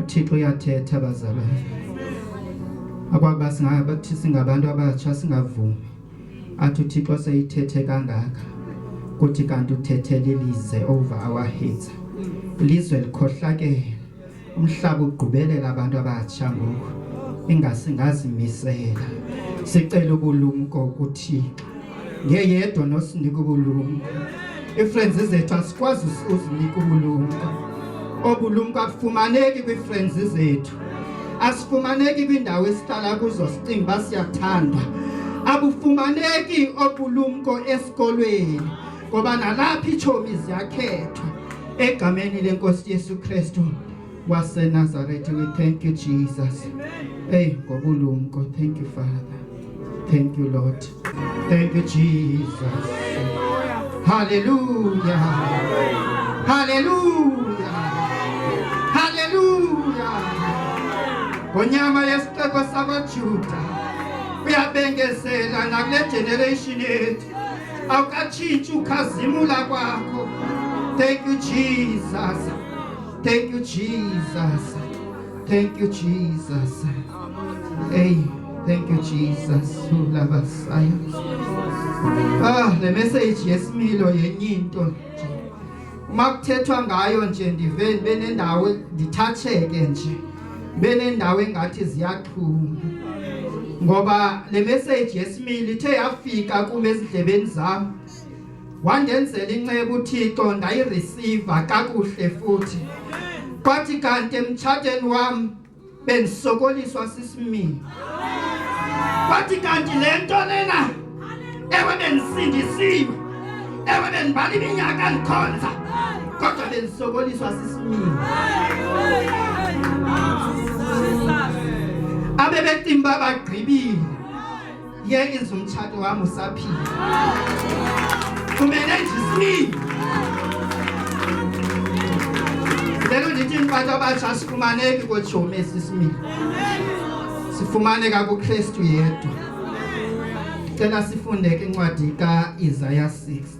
uthixo uyathetha bazalwane akwaba singabathi singabantu abatsha singavumi athi uthixo seyithethe kangaka kuthi kanti uthethele ilize over our heads ilizwe likhohlakele umhlaba ugqubelela abantu abatsha ngoku ingasingazimisela sicela ubulumko kuthixo ngeyedwa nosinika ubulumko ii-friends zethu asikwazi uzinika ubulumko obulumko akufumaneki kwii-friends zethu asifumaneki kwiindawo esihlala kuzo sicinga uba siyathandwa abufumaneki obulumko esikolweni ngoba nalapha itshomi ziyakhethwa egameni lenkosi yesu kristu wasenazaretha we thank you jesus eyi ngobulumko thank you father thank you lord Thank you, Jesus. Hallelujah. Hallelujah. Hallelujah. Konyama yesixeko sakwaJuda uyabengezela nakule generation yethu awukatshintshi ukhazimula kwakho thank you jesus thank you jesus Thank you, Jesus. Hey, thank you, Jesus. Who love us. Ah, the message yes milo yenye into. Uma kuthethwa ngayo nje ndive ndibe nendawo ndithatheke nje. Ndibe nendawo engathi ziyaxhuma. Ngoba le message yesimili ithe yafika kum ezidlebeni zami. wandenzela inceku uThixo ndayireceive kakuhle futhi kwathi kanti emtshateni wam bendisokoliswa sisimini kwathi kanti le nto lena ewe bendisindisiwe ewe bendibala iminyaka ndikhonza kodwa bendisokoliswa sisimini abebetimba bagqibile yengenza umtshato wam usaphila kumele ndisile lelo ndithi mfato abatsha asifumaneki kotshomi esisimile sifumaneka kukristu yedwa ndicela sifunde ke incwadi ka-isaya 6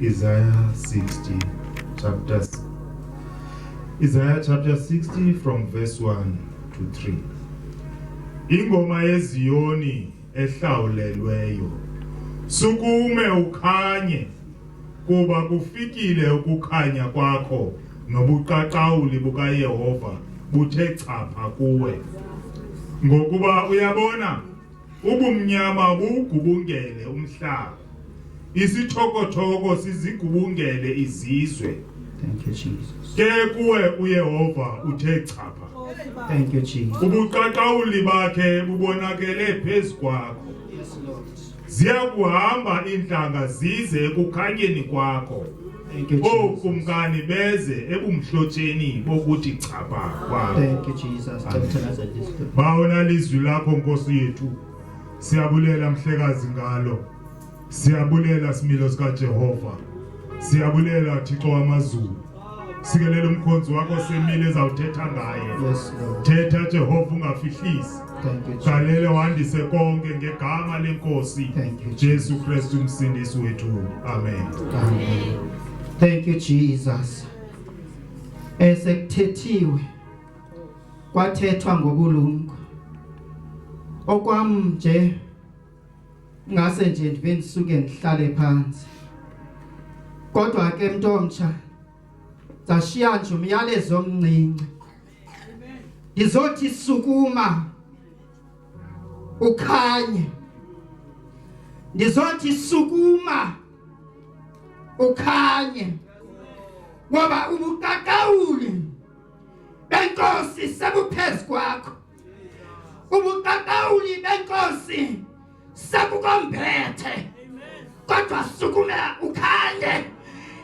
Isaiah 60, chapter Isaiah chapter 60 from verse 1 to 3. Ingoma yeZiyoni ehlawulelweyo. Sukume ukhanye kuba kufikile ukukhanya kwakho nobuqaqawuli bukaYehova buthe chapha kuwe. Ngokuba uyabona Ubumnyama buwugubungele umhlaba. Isithokothoko sizigubungele izizwe. Thank you Jesus. Ke kuwe uYehova uthe chapha. Thank you Jesus. Ubuqaqawuli bakhe bubonakele phezu kwakho. Yes Lord. Ziya kuhamba intlanga zize ekukhanyeni kwakho. Thank you, Jesus. ookumkani beze ebumhlotsheni bokuthi chapha kwakho Thank you, Jesus. Thank you, Nazareth. bawona lizwi lakho nkosi yethu siyabulela mhlekazi ngalo siyabulela similo sikajehova siyabulela thixo wamazulu sikelela umkhonzi wakho semile ezawuthetha ngaye Yes, Lord. thetha jehova ungafihlisi Galele wandise konke ngegama lenkosi Jesu Kristu umsindisi wethu. Amen. Amen. Thank you Jesus. Esekuthethiwe kwathethwa ngobulumko. Okwam nje ngase nje ndibe ndisuke ndihlale phansi. Kodwa ke mntomtsha zashiya nje umyalezo omncinci izothi sukuma ukhanye ndizothi sukuma ukhanye ngoba ubuqaqawuli benkosi sebuphezu kwakho ubuqaqawuli benkosi sekukomphethe kodwa sukumela ukhanye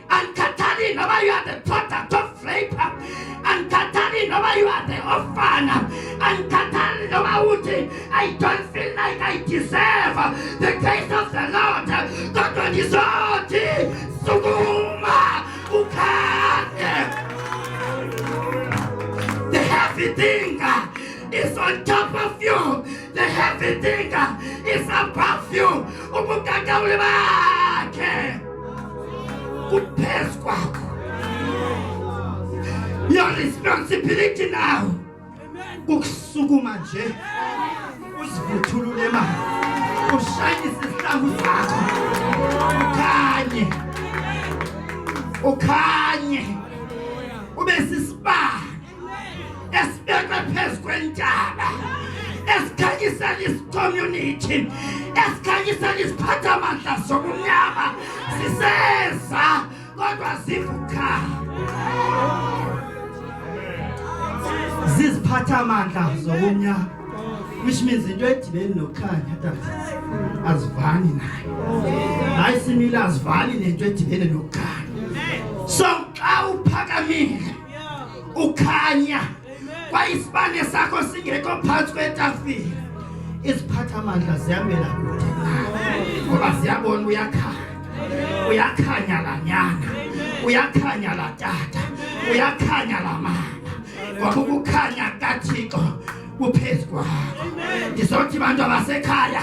andikhathali noba you are the product of rape andikhathali noba you are the ofana andikhathali noba uthi i don't feel like i deserve the grace of the lord kodwa ndizothi sukuma ukhanye the heavy thing is on top of you The heavy digger is above you. Ubugagawuli bakhe kuphezu kwakho. Your responsibility now kukusukuma nje uzivuthulule mali ushayise isihlangu sakho ukhanye ukhanye ube sisibani esibekwe phezu kwentaba esikhanyisela isicommunity esikhanyisela iziphathamandla zobumnyama siseza kodwa zivuka ziziphathamandla zobumnyama which means into edibeni nokukhanya tata azivani nayo hayi simile azivani nento edibene nokukhanya so xa uphakamile ukhanya kwayisibane sakho singekho phantsi kwetafile iziphatha amandla zihambela kude ngoba ziyabona uyakhanya uyakhanya la nyana uyakhanya la tata uyakhanya la mama ngoba ukukhanya kathixo kuphezu kwakho ndizothi bantu abasekhaya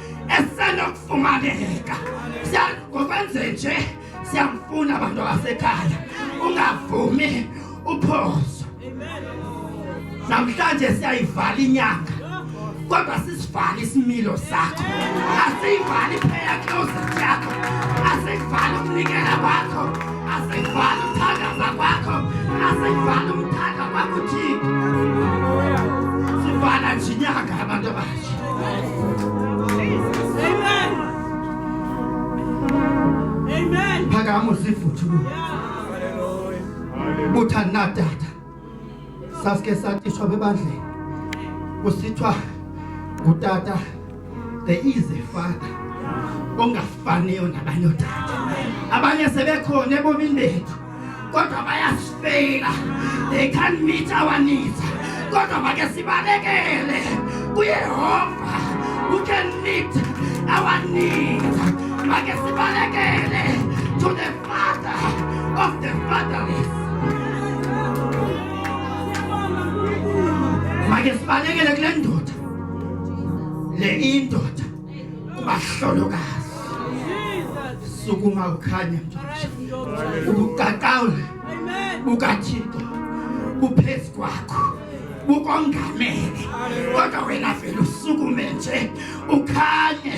esenokufumaneka ngokwenze nje siyamfuna abantu abasekhaya ungavumi uphoso namhlanje siyayivala inyanga kodwa sisivale isimilo sakho asiyivali phela closet yakho asiyivali ukunikela kwakho asiyivali ukuthandaza kwakho asiyivali umthanda kwakho thixo sivala nje inyanga abantu abahle uthanatata sasike satishwa bebandleni kusithiwa ngutata there is a father ongafaniyo nabanye otata abanye sebekhona ebomini bethu kodwa bayasifeyila they can't meet our needs kodwa make sibalekele kuyehova who can meet our needs make sibalekele to the father of the fatherless make sibalekele kule ndoda le indoda kubahlolokazi sukuma ukhanya ubuqaqawule bukathixo buphezu kwakho bukongamele kodwa wena vele usukume nje ukhanye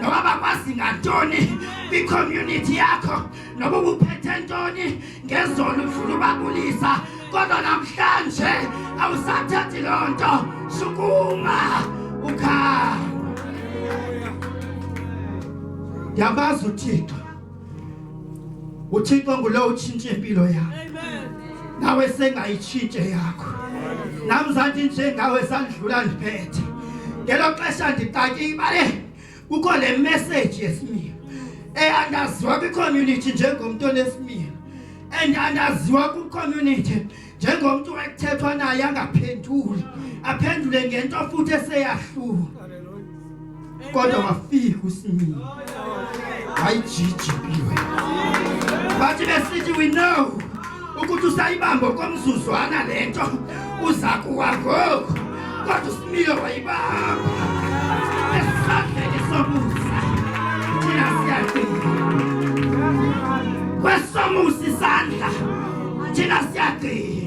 noba bakwazi ngantoni kwicommunity yakho noba ubuphethe ntoni ngezona ufuna ubabulisa kodwa namhlanje awusathathi loo nto sukuma ukhaya ndiyabazi uthixo uthixo ngulo utshintshe impilo yakho nawe sengayitshintshe yakho nam zanti njengawe sandidlula ndiphethe ngelo xesha ndixatyibale kukho le message yesimiya eyandaziwa kwicommunity njengomntu onesimiya and andaziwa kwicommunity njengomntu ekuthethwa naye angaphenduli aphendule ngento futhi eseyahluka kodwa wafika usimile wayijijiphiwe bathi besithi we know ukuthi usayibambe okomzuzwana le nto uza kuwa ngoku kodwa usimilo wayibamba esandleni somusa thina siyagcina kwesomusa isandla thina siyagcina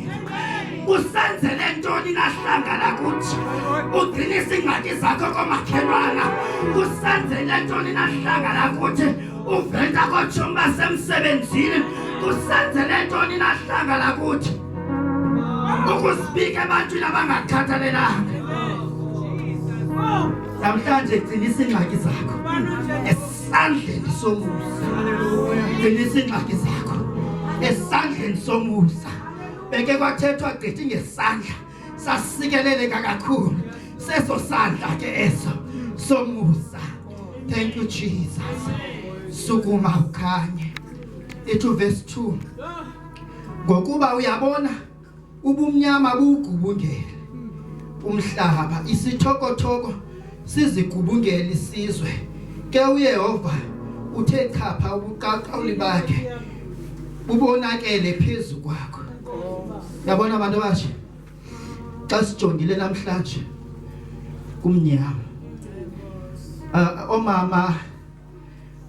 usenzele ntoni nahlangana kuthi ugcinisa iingxaki zakho komakhelwana usenzele ntoni nahlangana kuthi uveta kootshomi basemsebenzini kusenzele ntoni nahlanga lakuthi ukusibika ebantwini abangakhathalelanga namhlanje gcinisa iingxaki zakho esandleni somusa gcinisa iingxaki zakho esandleni somusa beke kwathethwa gqithi ngesandla sasikeleleka kakhulu seso sandla ke eso somusa thank you jesus sukuma ukhanye ethi verse 2 ngokuba uyabona ubumnyama bugubungele umhlaba isithokothoko sizigubungele isizwe ke uyehova uthe chapha ubuqaqawuli bakhe bubonakele phezu kwakho yabona abantu abatsha xa sijongile namhlanje kumnyama uh, omama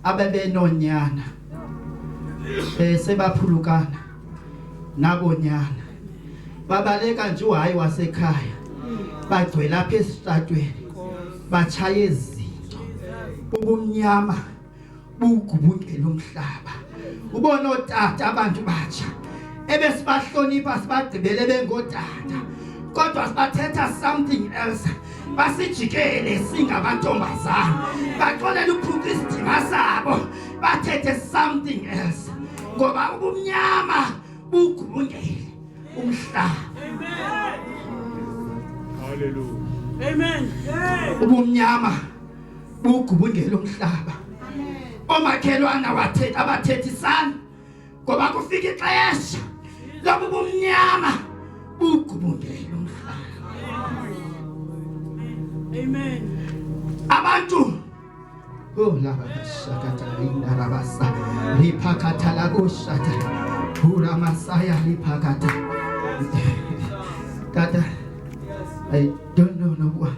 abebenonyana eh sebaphulukana nabonyana babaleka nje uhayi wasekhaya bagcwela apha esitratweni batshaya izinto ubumnyama bugubungela umhlaba ubona ootata abantu batsha ebesibahlonipha sibagqibele bengootata kodwa sibathetha something else basijikele singamantombazana baxolela uphuka isidima sabo bathethe something else ngoba ubumnyama bugubungele umhlaba Hallelujah. Amen. Ubumnyama bugubungela umhlaba omakhelwana wathetha abathethisana ngoba kufika ixesha lobu bumnyama bugubungela umhlaba amen abantu Oh la shakata linda rabasa lipakata la kushata hura masaya lipakata tata I don't know no what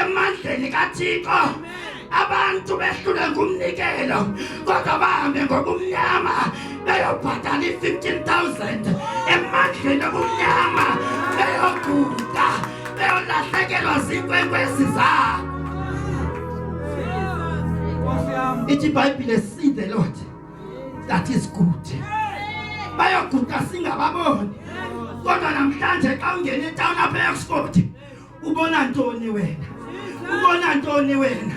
emandleni kathixo abantu behlule ngumnikelo kodwa bahambe ngobumnyama beyobhatala i-15000 emandleni obumnyama beyoguda beyolahlekelwa ziinkwenkwezi zabo ithi ibhayibhile see the lord that is good bayoguda singababoni kodwa namhlanje xa ungena etawuni apha eoxford Ubona ntoni wena? Ubona ntoni wena?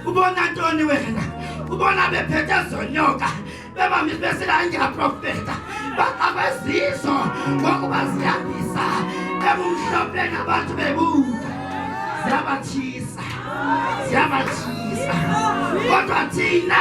Ubona ntoni wena? Ubona bephethe zonyoka bebamisa besila ngiyaprofeta baqabezizo ngokuba ziyandisa ebumhlophe nabantu bebuka ziyabathisa ziyabathisa kodwa thina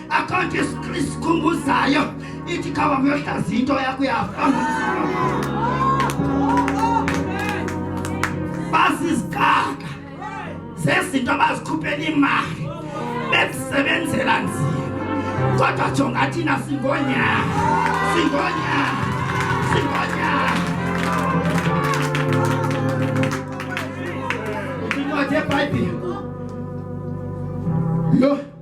akho nto isikhumbuzayo ithi khaba muyohlaza into yakho yafa basizigaka zezinto abazikhuphela imali bekusebenzela nzima kodwa jonga thina singonya singonya singonya incwadi yebhayibhile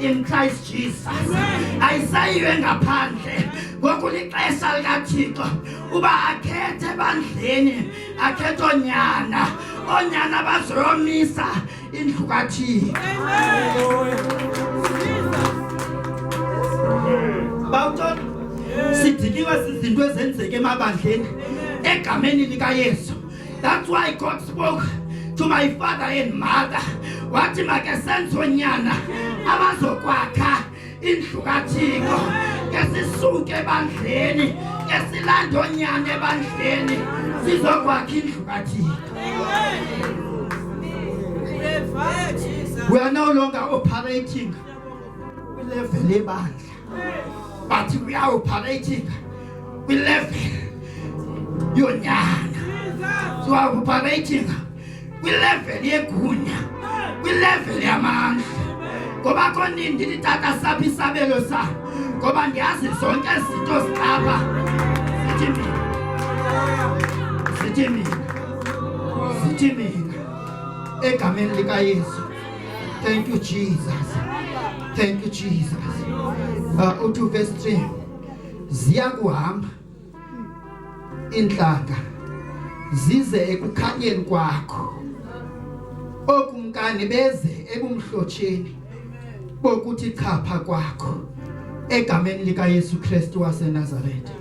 in Christ Jesus ayisayiwe ngaphandle ngoku lixesha likathixo uba akhethe ebandleni akhethe oonyana oonyana bazoyomisa indlu kathixo bawutona sidikiwe zizinto ezenzeka emabandleni egameni likayesu That's why God spoke to my father and mother wathi makesenze onyana abazokwakha indlu kathixo ke sisuke ebandleni ke silande onyana ebandleni sizokwakha indlu kathixo we are no longer operating kwilevel ebandla But we are operating. We left your nyana. So I'm operating. We left your gunya. We left your man. Ngoba konini nditata saphi isabelo sa? Ngoba ndiyazi zonke izinto zilapha. Sithi mina. Sithi mina. Sithi mina. Egameni likaYesu. Thank you, Jesus. Thank you, Jesus. Uh, uthi verse 3 ziyakuhamba intlanga zize ekukhanyeni kwakho okumkani beze ebumhlotsheni bokuthi chapha kwakho egameni lika Yesu Kristu waseNazaretha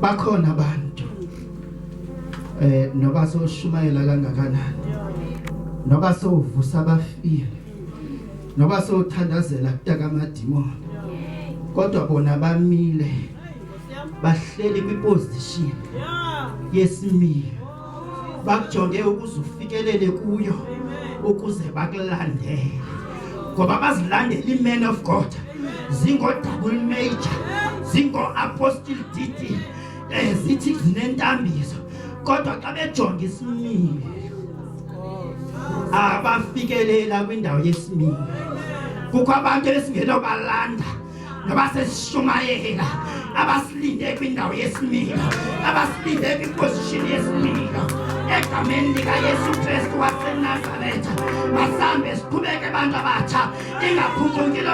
bakhona abantu eh noba soshumayela kangakanani noba sovusa abafile noba sothandazela kutaka amadimoni kodwa bona bamile bahleli kwiposition yesimilo bakujonge ukuze ufikelele kuyo ukuze bakulandele ngoba bazilandela iman of god zingodabul major zingoapostle dd ezithi zinentambiso kodwa xa bejonga isimilo abafikelela kwindawo yesimilo kukho abantu esingeno balanda nabasesishumayela abasilinde kwindawo yesimilo abasilinde kwiposition yesimilo egameni likayesu kristu wasenazaretha masambe siqhubeke abantu abatsha ingaphunguki lo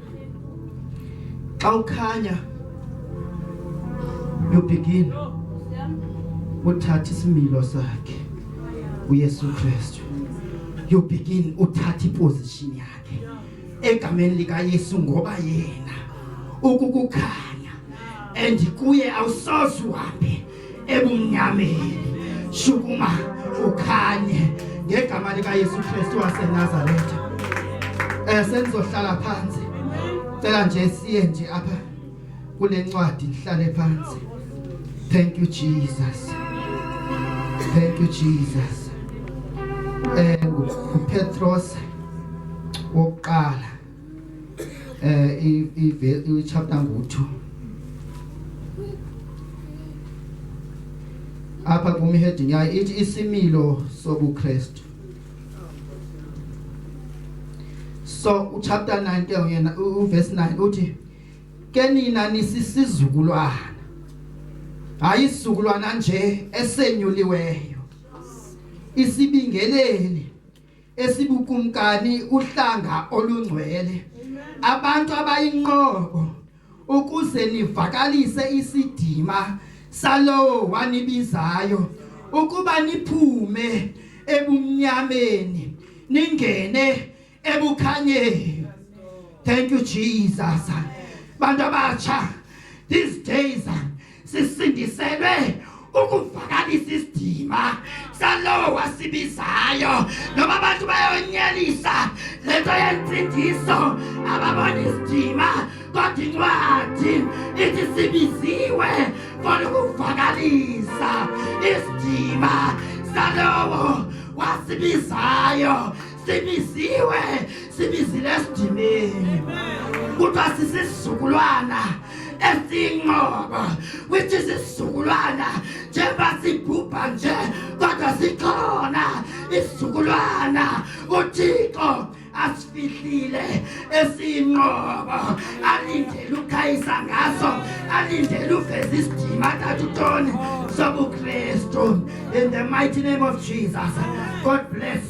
Xa ukhanya you begin uthatha isimilo sakhe uYesu Kristu you begin uthatha iposition yakhe egameni lika Yesu ngoba yena ukukukhanya and kuye awusozi uhambe ebumnyameni, shukuma ukhanye ngegama likaYesu Kristu waseNazaretha. Eh sendizohlala phansi. Cela nje siye nje apha kule ncwadi ndihlale phansi. Thank you Jesus. Thank you Jesus. Eh uPetros wokuqala eh i chapter ngo-2 apha kum ihedini yayo ithi isimilo sobukrestu so uchapter 9 ke yena uverse 9 uthi ke nina nisisizukulwana hayi isizukulwana nje esenyuliweyo isibingeleli esibukumkani uhlanga olungcwele abantu abayinqobo ukuze nivakalise isidima salowo wanibizayo ukuba niphume ebumnyameni ningene ebukhanyeni thank you jesus bantu abatsha these days sisindiselwe ukuvakalisa isidima salowo wasibizayo noba abantu bayonyelisa le nto yentsindiso ababona isidima kodwa incwadi ithi sibiziwe for ukuvakalisa isidima salowo wasibizayo sibiziwe sibizile esidimeni kuthiwa sisizukulwana esiyinqobo which is isizukulwana njengoba sibhubha nje kodwa sikhona isizukulwana uthixo asifihlile esiyinqobo alindele ukhayisa ngaso alindele uveza isidima athatha utoni sobukristu in the mighty name of jesus god bless